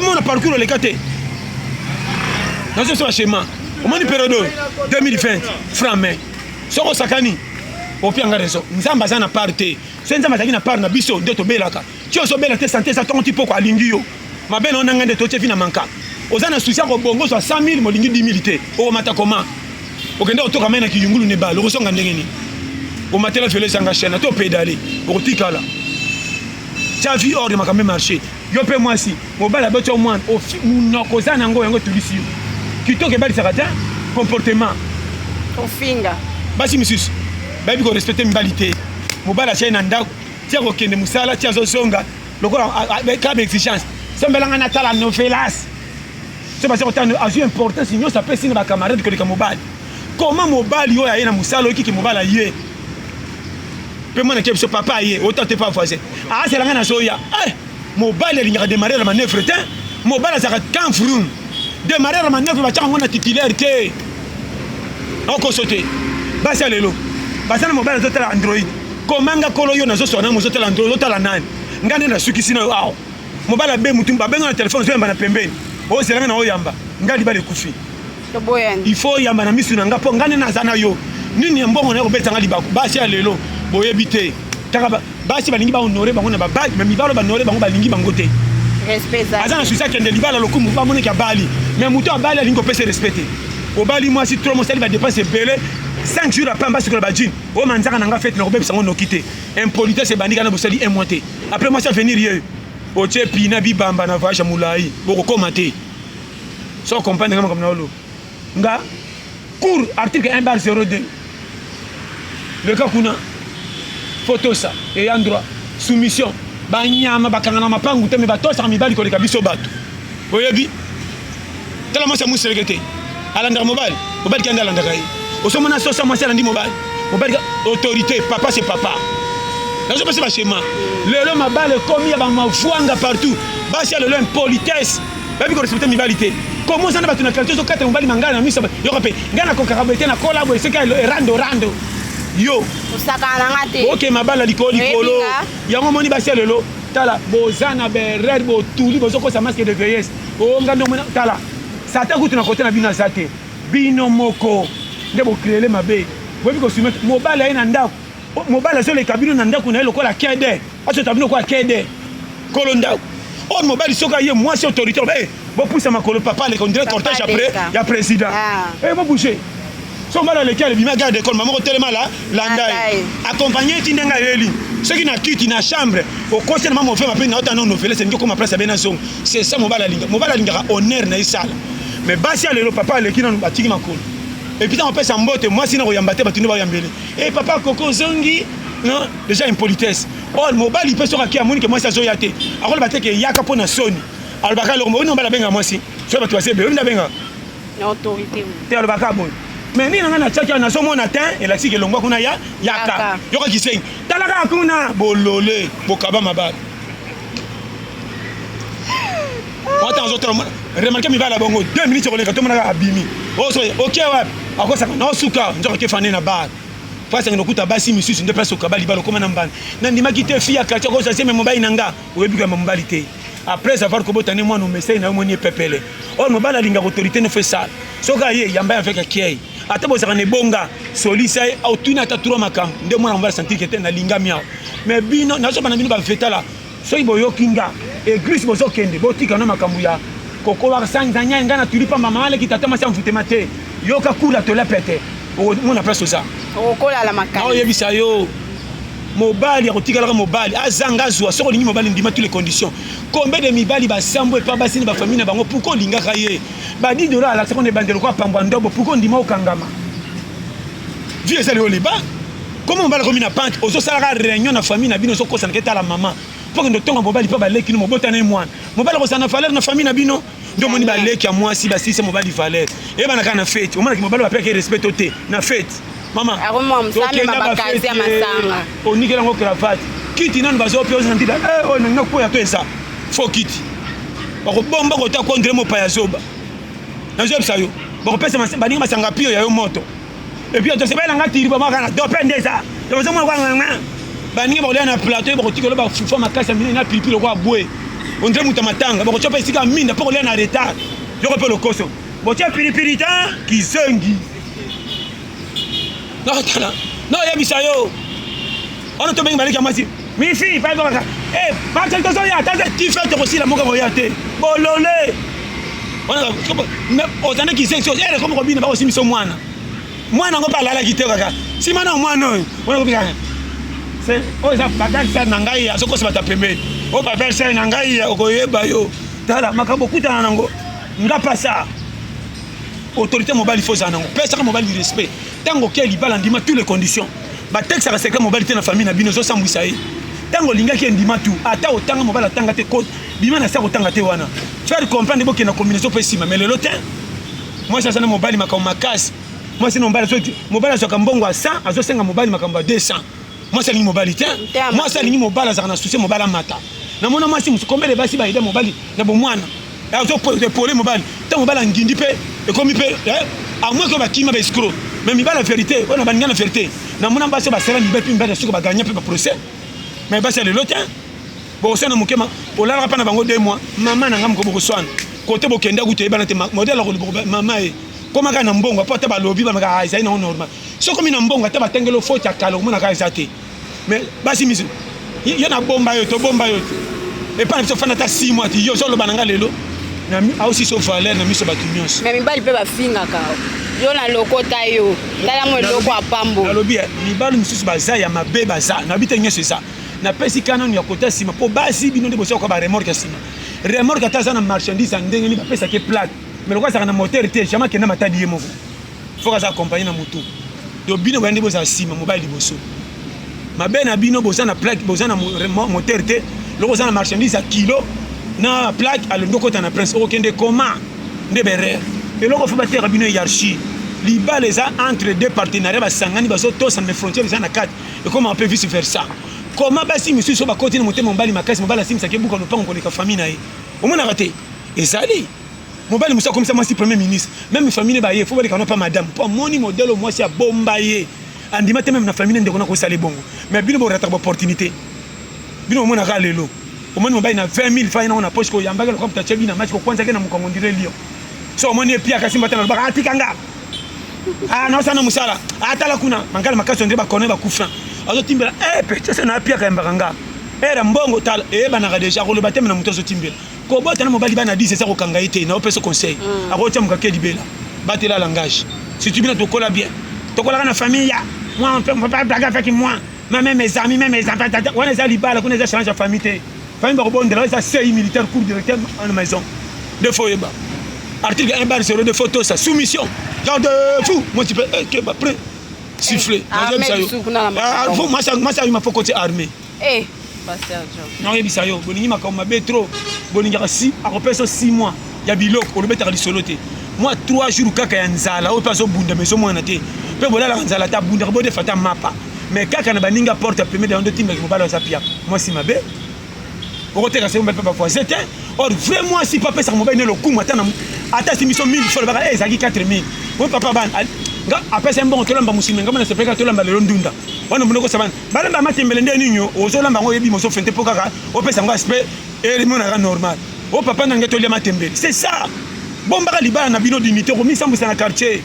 omona parcours oleka te nazosala chema omoni periode oyo 2020 franc mai soki osakani opia nga raison nzambe aza na part te soki nzambe azalaki na part na biso nde tobelaka ti ozobela te sante eza ntongo ti mpoko alingi yo mabe na yo na ngai nde totye vi na manka oza na susi ya kobongo ozwa 100 000 molingi 10 000 te okomata koma okende kotoka mai na kiyungulu na ebale okozonga ndenge nini omatela velo ezanga chaine to pedale okotikala tya vie ordre makambo emarche yo mpe mwasi mobali aboti yo mwana monoko oza na yango yango etulisi yo kitoko ebalisaka te comportement ofinga basi mosusu bayebi korespecte mibali te mobali atyai na ndako ti akokende mosala ti azozonga lokola kaka baexigence sombelanga natala novelas so baza kotala azwi importance nyonso apesi na bacamarade koleka mobali koma mobali oyo aye na mosala oyoki ke mobali aye mpe mwana ke biso papa aye autant te pas voisin azala ngai nazoya eh, mobali alingaka demarrer manœuvre te mobali azalaka quand vroum demarrer manœuvre batyaka yango na titulaire te okoso te basi ya lelo baza na mobali azotala android komanga kolo yo nazoswa na mozotala android ozotala nani ngai nde nasukisi na yo awa mobali abe mutu babenga na telefone ozoyamba na pembeni ozelanga na oyamba ngai libala ekufi il faut oyamba na misu na nga mpo nga nde naza na yo nini ya mbongo na yo kobetanga libaku basi ya lelo boyebi te taka basi balingi bahonore bango na babali me mibalo banore bango balingi bango te aza na susi akende libala lokumu bamoneki abali me moto abali alingi kopesa respect te obali mwasi tro mosali badepense ebele 5 jours après mbasi kola bajine oyo manzaka na nga fete nakobebisa yango noki te impolitesse ebandi kana bosali un mois te après mwasi avenir ye otie pina bibamba na voyage ya molai bokokoma te so comprendre nga makambo na oloba nga cour article 1 bar 02 leka kuna fotosa eya droit soumission banyama bakanga na mapangu te me batosaka mibali koleka biso bato oyebi tala mwasi ya moseleke te alandaka mobali mobali kende alandaka ye osomona sosa mwasi alandi mobali mobali autorité papa se papa nazopesa bashema lelo mabala ekomi ya bamafwanga partout basi ya lelo impolitesse bayebi ko respecte mibali te komo oza na bato na kalite ozokata mobali mangala na miso yoko mpe ngai nakokaka boye te na kolabo eseki ya erando rando yo osakana na nga te oke mabala likolo likolo yango omoni basi ya lelo tala boza na berere botuli bozokosa maske de veillesse onga nde omona tala sata kutu na kote na bino aza te bino moko nde bokreele mabe boyebi kosumete mobali aye na ndako mobali azoleka bino na ndako na ye lokola kede azota bino lokola kede kolo ndako oyo oh, mobali soki aye mwasi autorité loba eh, bopusa makolo papa aleka ondire cortège ya président ah. eh, bobouge so mobali aleki alebima garde école mamoko telema la landa ye accompagne eti ndenge ayeli soki na kiti na chambre okosi na mama ofema mpe naota no novele sengi okoma place ya bena zongo c'est ça mobali alinga mobali alingaka honneur na ye sala mais basi ya lelo papa aleki nanu batiki makolo epuis ntango apesa mbote mwasi na koyamba te bato nde bayambele Hey, eh, papa koko ozongi non déjà impolitesse or oh, mobali mpe soki akia amoni ke mwasi azoya te akoloba te ke eyaka mpo na soni alobaka eloko moyoni mobali abenga mwasi soki bato basebe oyoni abenga te alobaka boye mais nini nanga natiaki awa nazomona te elakisi kelongwa kuna ya yaka yoka kisengi tala kaka kuna bolole bokaba mabala wata azotala remarke mibala bongo 2 minutes koleka tomonaka abimi oso oke wapi akosaka na osuka nzoka ke fane na bar place yango nokuta basi misusu nde place okaba libala okoma na mbanda nandimaki te fi ya quartier okosa seme mobali na nga oyebi koyamba mobali te après avoir kobota ne mwana omesei na yo moni epepele oyo mobali alingaka autorité nofo esala soki aye yamba ya veke kiei ata bozalaka na ebonga solisa ye otuni ata tro makambo nde mwana mobali santike te nalingami awa mais bino nazobana bino bafetala soki boyoki nga eglise bozokende botika na makambo ya kokola sanza nyai ngai natuli pamba mama aleki tata masi amfutema te yoka kula tola pete omona place oza okolala makasi oyebisa yo mobali akotikalaka mobali azanga azwa soki olingi mobali ndima tu les conditions combien de mibali basambo epa basi na bafamille na bango pourkoi olingaka ye Badi Dora alakisaka na ebandelo kwa pangwa ndobo puko ondima okangama. Vie ezali yo liba. Koma mobali akomi na banke ozosalaka réunion na famille na bino ozokosanaka etala mama mpo kende otonga mobali mpo baleki no mobota na ye mwana mobali akozala na valeur na famille na bino nde omoni baleki ya mwasi basilisa mobali valeur eyebana kaka na fete omonaki mobali bapekaki respect to te na fete mama tokenda bafeti onikela yango cravate kiti nanu bazopia oza na ndida eh, oyo nalinga koya mpe eza fo kiti bakobomba kota kondre mopaya zoba nazoyebisa yo bakopesa baninga masanga pio ya yo moto epuis otosebela nga tiriba maka na dope nde eza tozomona kwanganga baninga bakolia na plateau bakotika oloba fufa makasi ya minene na pilipili lokola bwe ondre moto ya matanga bakotya mpe esika minda mpo kolia na retard yoko mpe lokoso botya pilipili ta kizengi nakotala noyebisa yo wana tobengi baleki ya mwasi mifi paekobaka e bakeli tozoya tata tife tokosila moka koya te bolole ozande kisensi ere eh, komi kobina bakosimisa mwana mwana yango mpe alalaki te kaka nsima na mwana oyo wana kobika oyo eza baverser na ngai azokosa bato ya pembeni oyo baverser na ngai okoyeba yo tala makambo okutana nango nga pasa autorité mobali faut ezala nango pesaka mobali respect ntango oke libala ndima tout les conditions batexaka secret mobali te na famille na bino ezosambwisa ye ntango olingaki endima tu ata otanga mobali atanga te kote bima na sa kotanga te wana faire comprendre bokenda combinaison mpe nsima mais lelo te mwasi aza na mobali makambo makasi mwasi na mobali azwaka mbongo ya 100 azosenga mobali makambo ya 200 mwasi alingi mobali te mwasi alingi mobali azalaka na susi mobali amata namona mwasi mosu kombele basi bayede mobali na bomwana azopole mobali ntango mobali angindi mpe ekomi mpe eh, amweke bakima baescro mais mibali ya verité oyo na baninga na verité namona basi basala mibali mpe mibali ya soko baganye mpe baprocès mais basi ya lelo te bokoswana moke olalaka mpa na bango de mois mama na ngai moko bokoswana kote bokenda kutu eyebana te modele akoloba mama ye komaka na mbongo mpo ata balobi bamaka ah, ezali nango normal soki okomi na mbongo ata batangeli yo faute ya kala omona kaka eza te mais basi misu yo nabomba yo tobomba yo te epai na biso fanda ata 6 mois ti yo ozoloba na ngai lelo aosi so valeur na miso bato nyonso me mibali mpe bafingaka yo na lokota yo tala mo eloko ya pambo nalobi eh, mibali mosusu baza ya mabe baza nabi te nyonso eza napesi ka nanu ya kota nsima mpo basi bino nde bosokoka baremorke ya nsima remorke ata aza na marchandise ya ndenge nini bapesaki plate me lokola azalaka na motere te jamai akenda matadi ye moko fok aza accompagne na moto donc bino boyandi bozala nsima mobali liboso mabe na bino boza na plaque boza na moteur te loko oza na marchandise ya kilo na plaque alongi okota na prince okokende koma nde berere eloko fo bateka bino hiérarchie libala eza entre deux partenariat basangani bazotosana me frontière eza na kati ekoma mpe vice versa koma basi misusu oyo bakoti na motema mobali makasi mobali asimisaki ebuka lopango koleka famille na ye omonaka te ezali Mobali musa komisa mwasi premier ministre. Meme famille ba ye faut baleka na pa madame. Po moni modelo mwasi ya bomba ye. Andima te meme na famille ndeko na ko sale bongo. Mais bino bo rataka opportunité. Bino mona ka lelo. Omoni mobali na 20000 fa na poche ko yambaka lokam ta chebi na match ko kwanza ke na mukongo ndire lio. So omoni ye pia kasi mbatana lobaka atika nga. Ah na sana musala. Atala kuna mangala makaso ndire ba kone ba kufra. Azo timbela eh pe chese na pia ka yambaka nga. Era mbongo tala eyebanaka deja koloba te me na moto azotimbela kobota na mobali bana 10 eza kokanga ye te na opesa conseil mm. akotia mokake libela batela langage surtout bino tokola bien tokolaka na famille ya moi on peut pas blaguer avec moi mais même mes amis même mes enfants wana eza libala kuna eza change ya famille te famille bakobondela eza sei militaire cour directeur en maison de fois oyeba article 1 bar 0 de fois tosa soumission garde fou moi tu peux eh, que ba près siffler eh, ah, moi ça moi ça il m'a faut côté armée Eh, Pasteur Joe. nakoyebisa yo bolingi makambo mabe trop bolingaka si akopesa yo 6 mois ya biloko olobetaka lisolo te mwa 3 jours kaka ya nzala oyo mpe azobunda mais ezomwana te mpe bolalaka nzala te abundaka bodefa ata mapa mais kaka na baningi ya porte ya pemede yango ndotindaki mobali aza pia mwasi mabe okoteka se mobali mpe bavoisin te or vrai mwasi mpe apesaka mobali ne lokumu ata na- ata asimbi so 1000 fo alobaka "Eh, ezalaki 4000 oyo papa bana al- nga apesa ye mbongo tolamba mosimi ngambo nasepelaka tolamba lelo ndunda wana mondoko sabana Balamba matembele nde nini ozo lamba ngo yebi mozo fente po kaka opesa ngo aspect et monaka normal. O oh, papa nange tolia matembele. C'est ça. Bombaka libala na bino dignité ko misambwisa na quartier.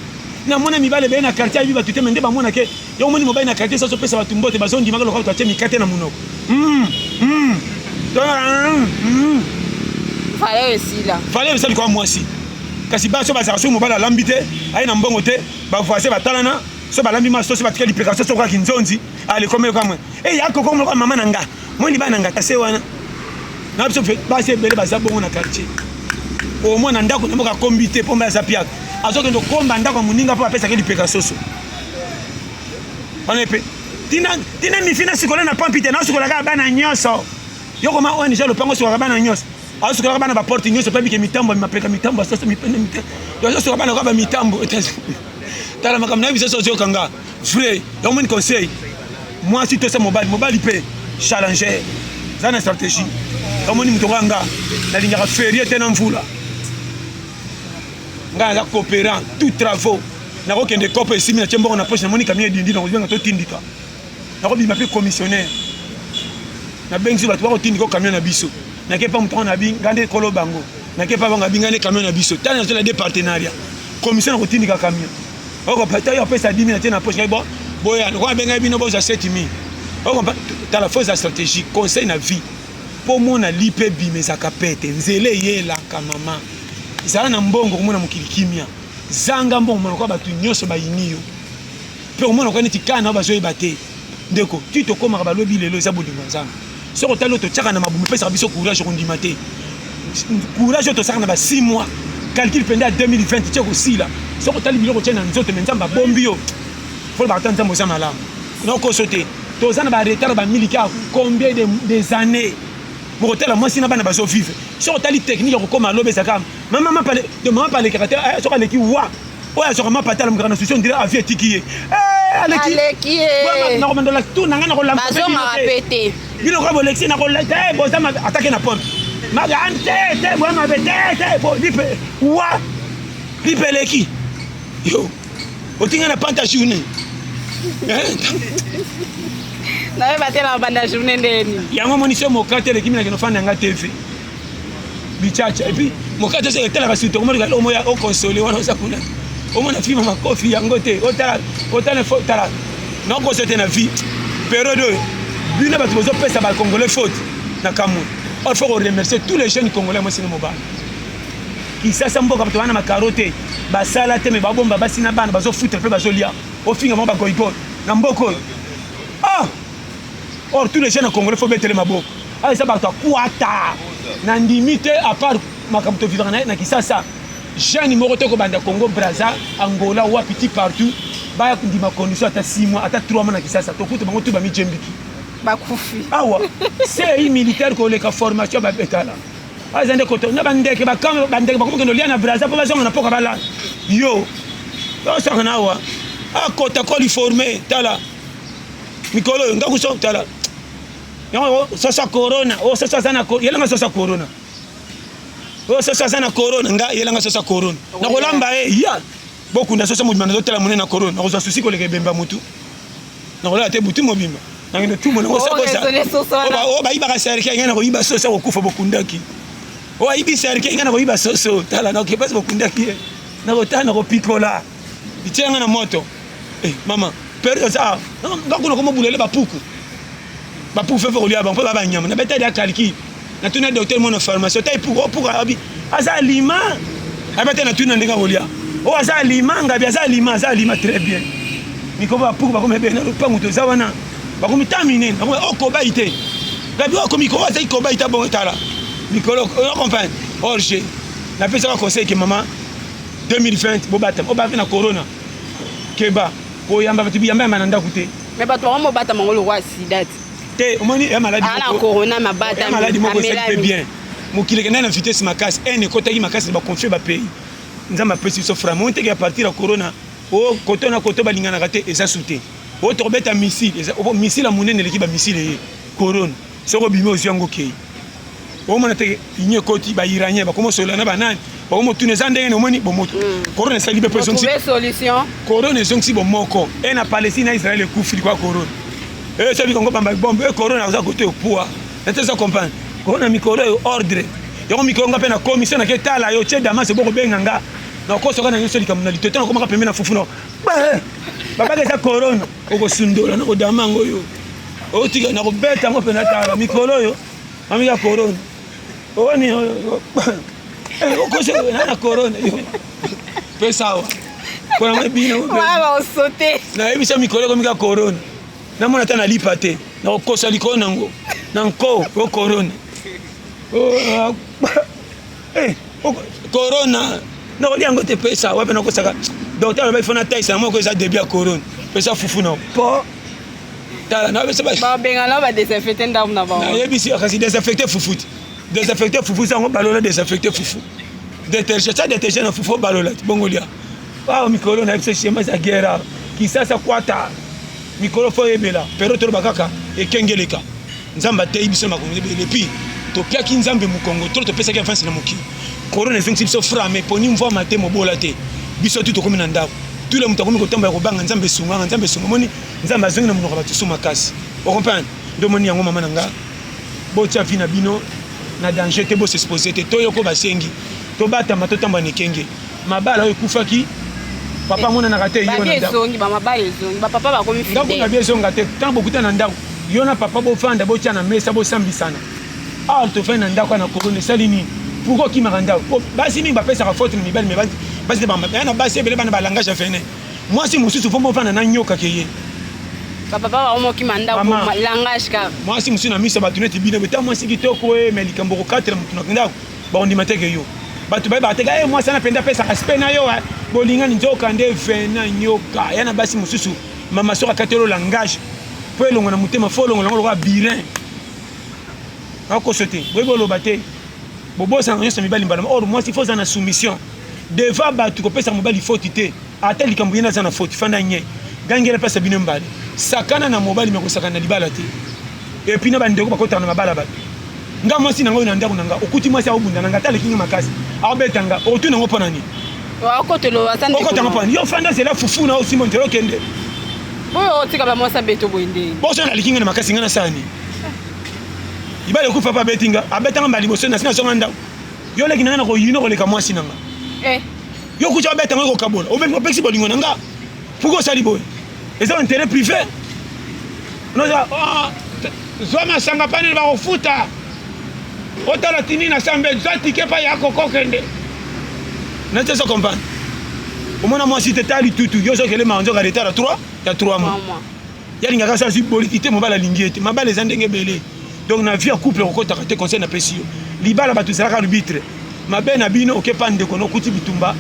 Na mona mibale be na quartier ayebi batu te mende ba mona ke yo moni mobali na quartier sazo pesa batu mbote bazo ndima lokola to atie mikate na munoko. Mm. Mm. Mm. Fale esila. Fale esila kwa mwasi. Kasi baso bazaka so mobali alambi te, aye na mbongo te, ba voisin batalana so balambi maso to so batika lipeka so sokola kinzonzi alekomi yo kamwe e ya koko moko mama na nga moni bana nga tase wana na biso mpe basi ebele baza bongo na quartier omona ndako na moko akombi te mpo mba aza piaka azokende okomba ndako ya moninga mpo apesaki lipeka soso wana epe tina mifi nasukola na pampi te nasukolaka bana nyonso yo koma ong lopango osukolaka bana nyonso azosukolaka bana baporte nyonso mpe bike mitambo mapeka mitambo asasa mipende mite azosuka bana kaka mitambo tala makambo na ye bisaso ozoyoka nga vrai yaomoni conseil mwasi tosa mobali mobali mpe challenger eza na stratégie yaomoni moto nga nga nalingaka ferie te na mvula ngai naza coopérant tout travaux nakokende cope esimi na tie mbongo na poche namoni kamia edindi nakozibanga totindika nakobima mpe commissionnaire nabengisi bato bakotindika o camion na biso nake mpa moto yango nabi ngai nde ekolo bango nake mpa bango abi ngai nde camion na biso tani nazala de partenariat commission na kotindika camion okopataki opesa dimi na te na poche bo boya lokola abengai bino bozwa setimi okompa tala fo eza stratégie conseil na vie mpo omona lipa ebima ezaka pete nzela eyelaka mama zala na mbongo komona mokili kimia zanga mbongo malokola bato nyonso bayini yo Mpe omona kwa neti kana bazoyeba te ndeko ti tokomaka balobi lelo eza bolingo nzambe soki otali oyo totyaka na mabumu epesaka biso courage okondima te courage oyo tosaka na ba 6 mois calcul mpenza ya 2020 tye kosila soki otali biloko tye na nzoto me nzambe abombi yo folobaka ta nzambe oza malamu naokoso te toza na baretard bamiliki ya combien des années bokotala mwasi na bana bazovivre soki otali technique ya kokoma loba ezaka mama mapale to mama palekaka te eh, soki aleki wa oyo azwaka mapata alamukaka na susi ondire avi etiki ye eh, alekiakomandola eh. tu na ngai nakolambazongaka mpe te bino kaka bolekisi nakolete eh, boza mabe atake na porte maga an te te boya mabe te te bo lipe wa lipe eleki yo otinga na panta journée naye batela banda journée ndeni yango monisi yo mokate elekimi na kinofanda yanga tv bichacha et puis mokati oso etalaka suite okomona kala omoya o console wana oza kuna omona fima makofi yango te otala otala fo tala na koso te na vie periode oyo bino bato bozopesa ba congolais faute na kamwe or faut remercier tous les jeunes congolais mwasi na mobali kisasa mboka bato wana makaro te basala te me babomba basi na bana bazofuta mpe bazolia ofinga bango bagoigoi na mboka oyo ah or tous les jeunes congolais faut betele maboko Ah, eza bato ya kwata na ndimi te apart makambo tovivaka na ye na kisasa jeune moko te kobanda congo braza angola wapi ti partout baya kondima condition ata 6 mois ata 3 mois na kisasa tokuta bango tu bamijembiki bakufi awa sei militaire koleka formation babetala aza nde koto na bandeke bakanga bandeke bakomokende olia na braza mpo bazonga na mpoka balala yo osaka na awa akota koliforme tala mikolo oyo ngakuso tala Yango soso corona, o oh, soso aza na corona, yelanga soso corona. O oh, soso aza na corona, nga yelanga soso corona. Na kolamba e eh, ya. Boku na soso mobimba na zotela mune na corona, na kozwa susi koleka ebemba mutu. Na kolala te butu mobimba. Na ngende tumo na kosa kosa. O ba iba ka serke ngena ko iba soso ko kufa bokundaki. O ibi serke ngena ko iba soso, tala na ko pesa bokundaki. Na kotana ko pikola. Itianga na moto. Eh, mama pere eza ah, ngakuna koma bulele bapuku bapuku fefe kolia bango mpe ba banyama na betali ya calcul na tuni ya docteur mwana pharmacie otai puku opuku oh, abi aza alima ayeba te na tuni na ndenge akolia o oh, aza alima ngabi aza alima aza alima très bien mikoba bapuku bakoma ebele na lopangu toza wana bakomi ta minene bakomi okobai oh, te ngabi okomi koba azaki kobai ta bongo tala mikolo ocomprendre orge napesaka conseil ke mama 2020 bobatama obaki na corona Keba koyamba bato biyamba yamba na ndako te. Mais bato bango mobatama ngo lokwa sida ti. Te omoni ya maladi moko. Ana corona mabata. Ya maladi moko esali pe bien. Mokili ekenda na vitesse makasi. Haine ekotaki makasi ba confie ba pays. Nzambe apesi biso frama. Oyo nteke ya partir ya corona. O oh, koto na koto balinganaka te eza sute. Oyo oh, tokobeta missile. Eza oh, missile ya monene eleki ba missile ye. Corona. soki obimi ozwi yango okei omona te union ekoti ba iranien bakoma osolola na banani bakomi otuna eza ndenge nomoni bomoto korona mm. esali mpe korona ezongisi bomoko e na palestine na israel ekufi likwa korona esabi kongo bamba bombe e korona aza kote opua nate eza comprendre korona mikolo oyo ordre yango mikolo nga mpe na commission nake tala yo tie damas eboko benga nga nakosoka na nyonso likambo na litoto nakomaka pembe na fufu na babaka eza korona okosundola na kodama yango oyo otika na kobeta yango mpe natala mikolo oyo mamika korona oni okosokola na korona yo mpe sawa mpona mwa bino nayebisa mikolo ekomika korona namona ata nalipa te nakokosa likolo nango na nko o korona Eh, corona nakolia yango te pesa wapi nakosaka docteur aloba ifo nataisa na moko eza debut ya corona pesa fufu na po tala nabesababengana badesinfecte ndako na bango nayebisi kasi desinfecte fufu te desinfecte fufu eza yango balola desinfecte fufu deterge sa deterge na fufu obalola te bongo lia awa mikolo na biso shema eza gera kisasa kwata mikolo fo oyebela pero toloba kaka ekengeleka Nzambe ateyi biso makambo ebele epi topiaki Nzambe mokongo trop topesaki avance na mokili corona ezongisi biso fra me poni mvua mate mobola te biso tu tokomi na ndako tule moto akomi kotambola kobanga Nzambe esunganga Nzambe esunga moni Nzambe azongi na monoko ya bato so makasi okomprendre ndo moni yango mama na nga botia vi na bino na danger te bosexpose te toyoko basengi tobatama totambola na ekenge mabala oyo ekufaki papa amonanaka te yo na ndako na bie ezonga te ntango bokuta na ndako yo na papa bofanda botya na mesa bosambisana awa tofandi na ndako na korona esali nini pourkui okimaka ndako basi mingi bapesaka faute na mibali mais basi nde bambata na basi ebele bana balangage ya fene mwasi mosusu fo mofanda na nyoka ke ye mwasi mosusu na miso bato neti bino beta mwasi kitoko e eh, me likambo okokatela motu na ndako bakondima te ke yo bato bayebaka te ka e mwasi wana mpenza apesaka spe na yo eh. bolingani nzoka nde vena nyoka ya na basi mosusu mama soki akatelo langage mpo elongo na motema fo olongola yango lokola birin akoso te boyebi oloba te bobosana nyonso mibali mbala or mwasi fo oza na soumission devant batu kopesa mobali faute te ata likambo yena aza na faute fanda nye gangela mpasa bino mbale sakana na mobali me kosakana na libala te epuis na bandeko bakotana na mabala bato nga mwasi na ngai na ndako na nga okuti mwasi aobunda na nga ata aleki nga makasi aobeta nga otuna yango mpo na nini okota ngo mpo na nini yo fanda zela fufu na osimbo nzela okende oyo otika bamwasi abeto boye nde boso naleki nga na makasi nga na sani libala ekufa mpe abeti nga abetanga mbala liboso nasi nazonga ndako Yo leki na nga na ko yino ko leka mwasi na nga. Eh. Yo kucha obeta nga ko kabola. Obeta opexi bolingo na nga. Pourquoi osali boye? Eza intérêt privé. Noza ah, zwa masanga panel ba kofuta. Otala tini na sambe zwa ticket pa ya kokokende. Na tesa comprendre. Omona mwasi te tali tutu. Yo zo kele manzo ka retard 3 ya 3 mois. ye alingaka se azwi boliki te mobali alingi ye te mabala eza ndenge ebele donc na vie ya couple okokotaka te conseil napesi yo libala bato ezalaka arbitre mabe na bino okepa ndeko na okuti bitumba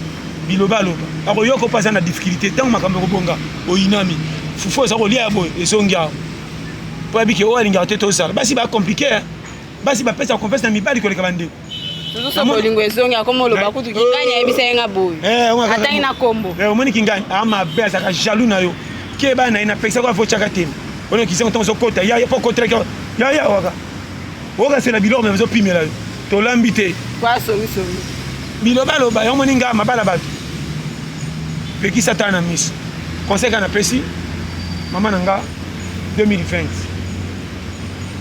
bilobaloba akoyoka mpe aza na difficulté ntango makambo ekobonga oyinami fufu oza kolia ya boye ezongi awa mpo yabike oyo alingaka te tozala basi bacomplike basi bapesa confiance na mibali koleka bandeko Susu bolingo ezongi akoma oloba kutu kingani ayebisa ye nga boye. Eh, Atangi na kombo. Eh, omoni kingani amabe ah, azalaka jaloux na yo. Keba na ye napekisa kwa vochaka te. Oyo kisengo ntango ozokota yaya mpo okotelaki yaya waka. Okasela biloko me bazopimela yo. Tolambi te. Kwa songisongi. Bilobaloba yango omoni ngaa mabala bato. Pekisa ata na miso. Conseil ka napesi mama na nga 2020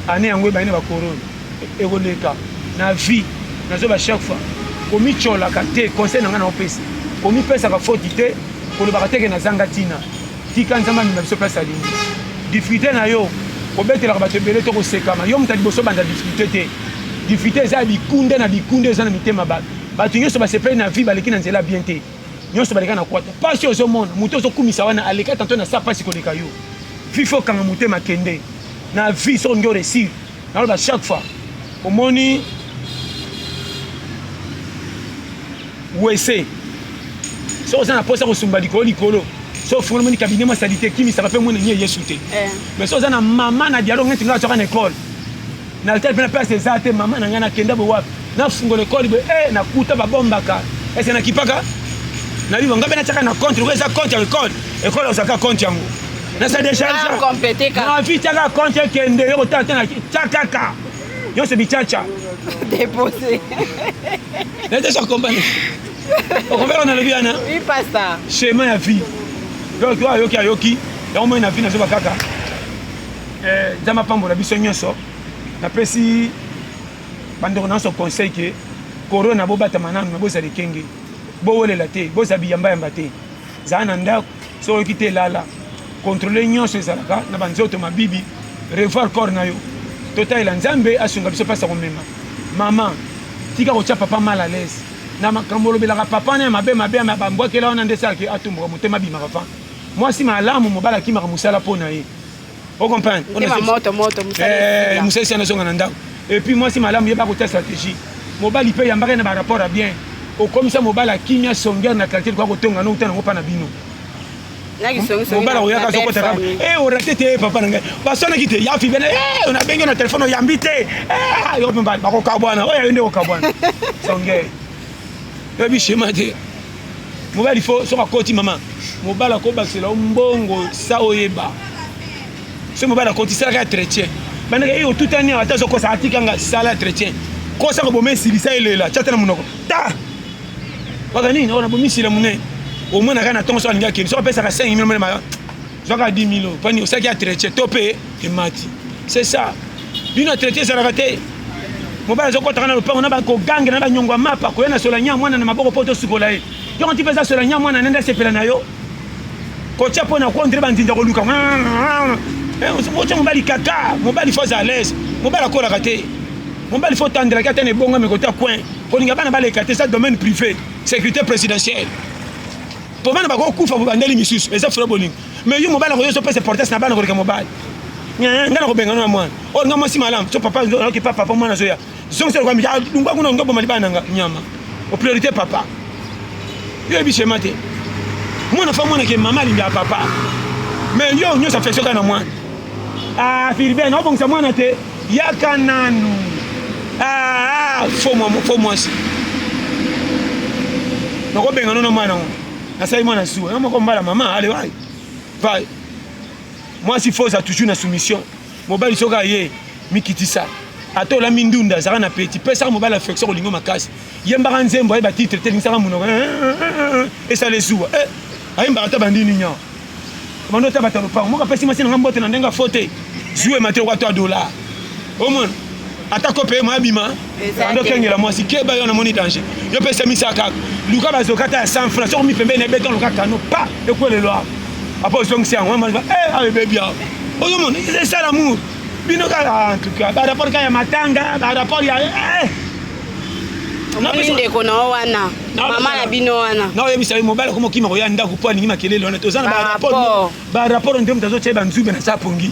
année yango ebandi na bakorona ekoleka na vie nazo ba chaque fois komicolaka te conseil na ngai naopesa komipesaka foti te kolobaka teke nazanga ntina tika nzambe amema biso place alingi difrite na yo kobetelaka bato ebele to kosekama yo moto ya liboso banda difrite te difrite eza ya bikunde na bikunde eza na mitema bato bato nyonso basepeli na vie baleki na nzela bien te nyonso baleka na kwata mpasi ozomona moto ozokumisa wana aleka tanto na sa mpasi koleka yo vifo okanga motema kende na vie soki olingi oresire naloba chaque fois omoni wese soki oza na mposa kosumba likolo likolo so ofungoli moni kabine mwa salite ekimisaka mpe mwana nie yesu te eh. mais so oza na mama na dialogue neti ngai azwaka na ekole na letele mpe na place eza te mama na ngai nakenda boye wapi nafungola ekole boye e eh, nakuta babombaka ese nakipaka nabiba ngai mpe natyaka na compte lokola eza compte ya ekole ekole ozalaka compte yango na se decharge na vie tiaka compte ekende yo kotala te na tia kaka nyonso bicaca depose nateso akombane okombela nalobi wana chemin ya vie donc oyo ayoki ayoki yango moi na vie nazoba kaka eh, nzambe apambola biso nyonso napesi bandeko na nyonso conseil ke corona bobatama nanu na bozala ekenge bowelela te bozala biyambayamba te zala na ndako soki oyoki te lala controle nyonso ezalaka na banzoto mabibi revoir corps na yo totalela nzambe asunga biso mpasi ya komema mama tika kotya papa mal à l'aise na makambo olobelaka papa na ya mabe mabe ya bambwakela wana nde esalaki atumbuka motema abimaka fa mwasi malamu mobali akimaka mosala mpo na ye o comprendre eh, mosalisi anazonga na ndako epuis mwasi malamu yeba kotia stratégie mobali mpe yambaka na barapport ya bien okomisa mobali akimia songeur na quartier likoya kotonga no uta nango mpa na bino mobala oyaka azokota kaka e orate te papa na ngai baswanaki te ya fibene e nabengi na telefone oyambi te eh, yo mpe bakokabwana oyo ayo nde kokabwana songe oyebi shema te mobali fo soki akoti mama mobali akobakisela yo mbongo sa oyeba soki mobali akoti salaka ya tretien bandeke eye otutani awa ata azokosa atika nga sala ya tretien kosa koboma esilisa elela tya te na monoko ta waka nini oyo nabomisila monene omona kaka na ntongo soki alingi akende soki apesaka 5 mil mele maka zwaka 10 milo pani osaki ya traite to mpe emati c'est ça bino traite ezalaka te mobali azokotaka na lopango na bakogange na banyongo ya mapa koya na solanya mwana na maboko mpo tosukola ye yoko nti mpenza solanya mwana nende asepela na yo kotya mpo na kondre bandinda koluka otya mobali kaka mobali fo aza alaise mobali akolaka te mobali fo otandelaki ata na ebongami kota coin kolinga bana baleka te eza domaine privé sécurité présidentielle po bana bakokufa bobandeli misusu eza fula bolingo mais yo mobali akoyo ezopesa importance na bana koleka mobali ngai nakobengana na mwana oyo nga mwasi malamu so papa nayoki pa papa mwana azoya zongisa lokola mija dungwa kuna olingi oboma libala na nga nyama o priorité papa yo yebi shema te mwana fa mwana ke mama alingi ya papa mais yo nyonso affection kaka na mwana ah filiben obongisa mwana te Yaka nanu. Ah, faux mwa faux mwasi. Nako benga nono mwana ngo. Nasali mwana suwa. Yo moko mbala mama, allez vai. Vai. Mwasi faux a toujours na soumission. Mobali soka ye mikitisa. Ata olami ndunda azalaka na peti. Pesa mobali affection kolingo makasi. Yembaka nzembo ayeba titre te lingisaka munoko. Esale suwa. Eh, ayembaka ata bandini nyaa. Bando ata bata lopango moko apesi mwasi na nga mbote na ndenge afo te zuwe mate okwa twa dola omona ata kope ye moabima bando okengela mwasi keba yo namoni danger yo mpe esemisa kaka luka bazoka ata ya 100 franc soko mipembeni ebeta luka kano pa ekwelelo awa apa ozongisi yango eh, awa ebebi awa ozomona esala mour bino kaka en tout cas barapport kaka ya matanga barapport ya eh, omoni ndeko na yo wana mama na bino wana na oyebisa ye mobali akoma okima koya ndako mpo alingi makelele wana toza na barapport nde moto azotya banzube na sa pongi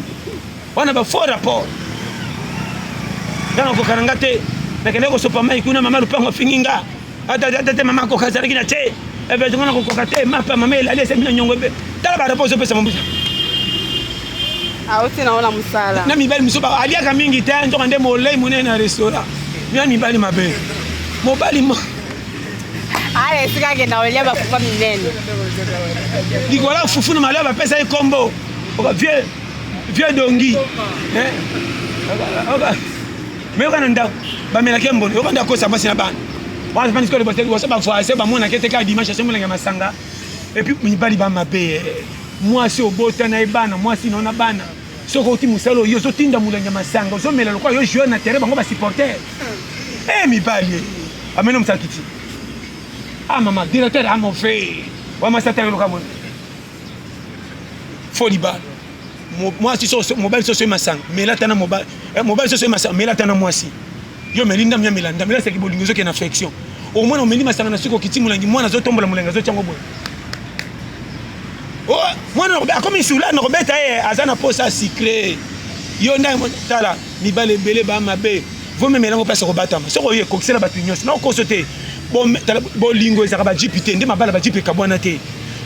wana bafaux rapport ntango akokana nga te nakendaki kosopa mai kuna mama lupango afingi nga ata te mama akoka azalaki na te ebetonga nakokoka te mapa mama elali esembi na nyongo ebe tala barapport ezopesa mobusa auti nango na mosala na mibali mosusu aliaka mingi te nzoka nde molei monene na restaurant bina mibali mabe mobali mo ala esika akenda kolia bafufa minene likolo ya fufu na malio bapesa ye nkombo vieux vieux dongi eh? meyoka na ndako bamelaki ye mbongo yoka nde akosa mpasi na bana wana mpe nsikolo bavoise bamonaki ete kaka dimanche asombelenge masanga epuis mibali ba mabe eh. mwasi obota na ye bana mwasi naona bana soki outi mosala oyo ozotinda molangi ya masanga ozomela lokola yo joueur na terrain bango basupporter e eh, mibali ameno mosakiti a ah, mama directeur amove ah, wamasatayoloka mona fo libala mwasi soso mobali soso emasanga mela tana mobali eh, mobali soso emasanga mela tana mwasi yo meli ndambi ya mela ndambi lasaki bolingo ezoke na affection omwana omeli masanga na suki okiti molangi mwana azotombola molangi azotyango boye oh, mwana akomi sula na kobeta ye eh, aza na posa sucre yo ndai tala mibali ebele ba mabe vomemela yango place ya kobatama soki oye kokisela bato nyonso na okoso te bolingo ezalaka bajipi te nde mabala bajipi ekabwana te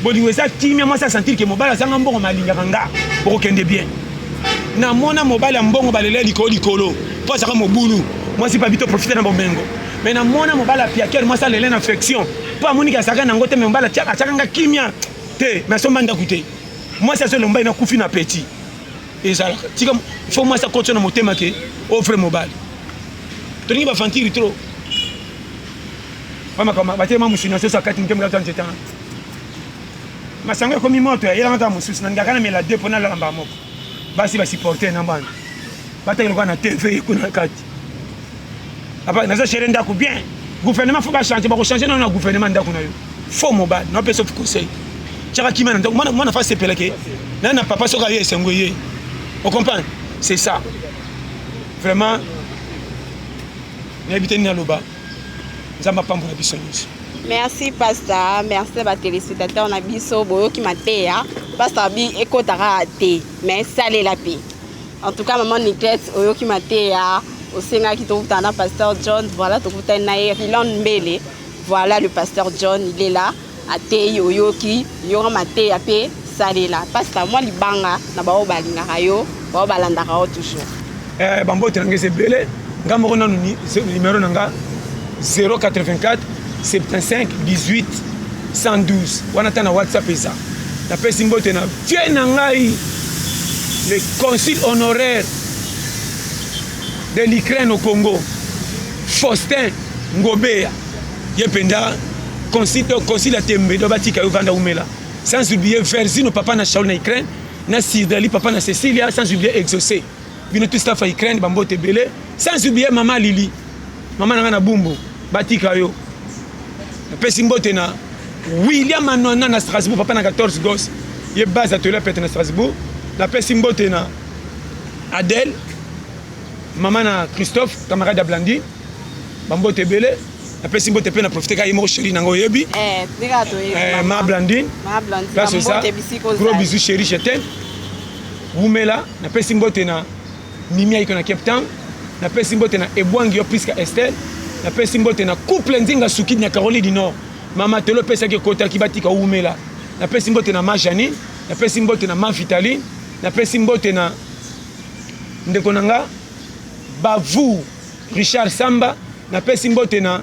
bolingo eza kimia mwasi asentir ke mobali azanga mbongo malingaka nga bokokende bien namona mobali ya mbongo balela likolo likolo mpo azalaka mobulu mwasi pabi to profite na bomengo me namona mobali apiakere mwasi alela na affection mpo amoniki azalaka nango te me mobali atyaka nga kimia te me asomba ndako te mwasi azolomba ye nakufi na petit ezalaka tika fo mwasi akoti na motema ke ofre mobali tolingi bafantiri trop bamakama batelema mosuni asoso akati moke mokati ya nzete wana masanga ekomi moto eyelanga kaka mosusu na ngaka na mela de mpo nalala mbaa moko basi basupporte na mbana bataki lokola na tv kuna kati Papa, naza chere ndako bien. Gouvernement faut ba changer, ba ko changer na gouvernement ndako na yo. Faux mobile, na pesa conseil. Chaka kima na ndako, mwana mwana fa sepela ke. Na na papa soka ye esengo ye. Vous comprenez? C'est ça. Vraiment nayebi te nini aloba nzambe apambola biso nyonso merci pasta merci na batelespectateur na biso boyoki mateya pasta bi ekotaka te mais salela mpe En tout cas maman Niquette oyoki mateya osengaki tokutana na pasteur John voilà tokutani na ye Riland Mbele voilà le pasteur John il est là ateyi oyoki yoka mateya mpe salela pasta mwa libanga na baoyo balingaka yo baoyo balandaka yo toujours eh, bambote na ngai eza ebele ngai moko nanu nimero na ngai 084 75 18 112 wana ata na whatsapp eza napesi mbote na vie na ngai le consul honoraire de l'ukraine au congo faustin ngobeya ye mpenza consul ya tembe do batika yo vanda umela sans oublier versino papa na shaul na ukraine na sirdali papa na cecilia sans oublier exaucé bino tout staff ya Ukraine ba mbote ebele sans oublier mama Lili mama na ngai na Bumbu batika yo napesi mbote na William Anwana na Strasbourg papa na 14 gos ye base atoli apete na Strasbourg napesi mbote na Adèle mama na Christophe camarade ya Blandine ba mbote ebele napesi mbote mpe na profite kaka ye moko sheri nango oyebi eh, eh, ma blandine place oza gros bisou sheri je t'aime Wumela, napesi mbote na Mimi Aiko na Cape Town, napesi mbote na Ebwangi yo Prisca Estelle, napesi mbote na couple Nzinga Sukidi na Caroline du Nord. Mama Telo pesaki ekotaki batika Wumela. Napesi mbote na Ma Janine, napesi mbote na Ma Vitaline, napesi mbote na ndeko na nga Bavu Richard Samba, napesi mbote na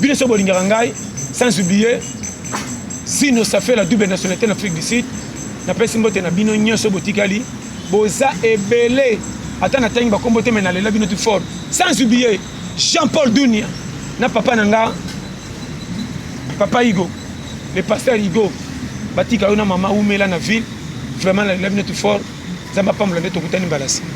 bino soki bolingaka ngai sans oublier sino ça fait la double nationalité na afrique du sud napesi mbote na bino nyonso botikali boza ebele ata natangi bakombo te me nalela bino tu fort sans oublier jean paul dunia na papa na nga papa igo le pasteur igo batika yo na mama umela na ville vraiment nalela bino tu fort nzambe apambola nde tokutani mbala nsima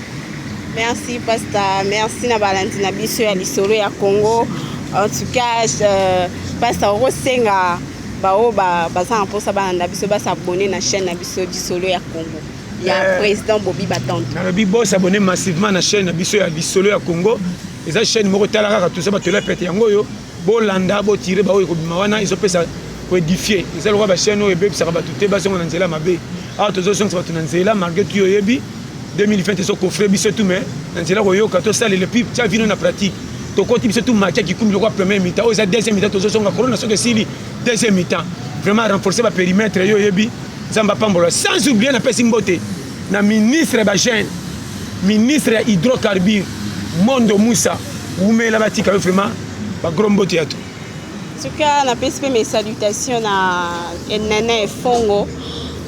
merci pasta merci na balandi na biso ya lisolo ya congo en tout cas euh, pasta okosenga baoyo baza na mposa balanda biso basabone na chaîne na biso lisolo ya congo ya euh, président bobi batante nalobi bosabone massivement na chaîne na biso ya lisolo ya congo eza chaîne moko tala kaka toza bato ela pete yango oyo bolanda bo tire baoyo ekobima wana ezopesa koedifie eza lokola bachaine oyo ebebisaka bato te bazonga na nzela mabe awa tozozongisa bato na nzela malgre tu oyebi 2020 ezocoffre biso tu mai na nzela koyoka tosalela epuis tya vino na pratique tokoti biso tu makia kikumbi lokola premier mitan oyo eza deuxième mitan tozozonga corona soki esili deuxième mitan vraiment renforcer baperimetre yo oyebi nzambe apambola sans oublie napesi mbote na ministre ya bagene ministre ya hydrocarbure mondo musa wumela batika yo vraiment bagro mbote ya to tuka napesi mpe mes salutation na nene fongo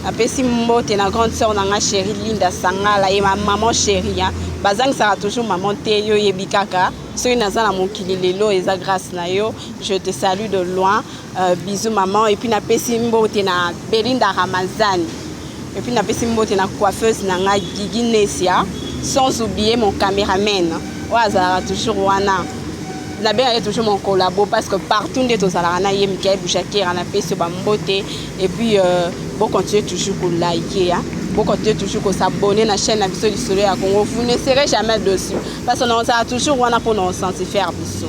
napesi mbote na grande sœur na nga chéri linda sangala ye maman chéri bazangisaka toujours maman te yo oyebi kaka soki naza na mokili lelo eza grâce na yo je te salue de loin Euh, bisous maman et puis na pesi mbote na Belinda Ramazani et puis na pesi mbote na coiffeuse na nga Gigi Nesia sans oublier mon cameraman oyo azalaka toujours wana nabengaka ye toujours mon collabo parce que partout nde tozalaka na ye mikael bujakera napesi yo bambote et puis euh, bocontinue toujours kolike hein? bocontinue toujours kosabonne na chaîne na biso lisolo ya congo vous ne serez jamais dessus parce que naozala toujours wana mpo na osancifere biso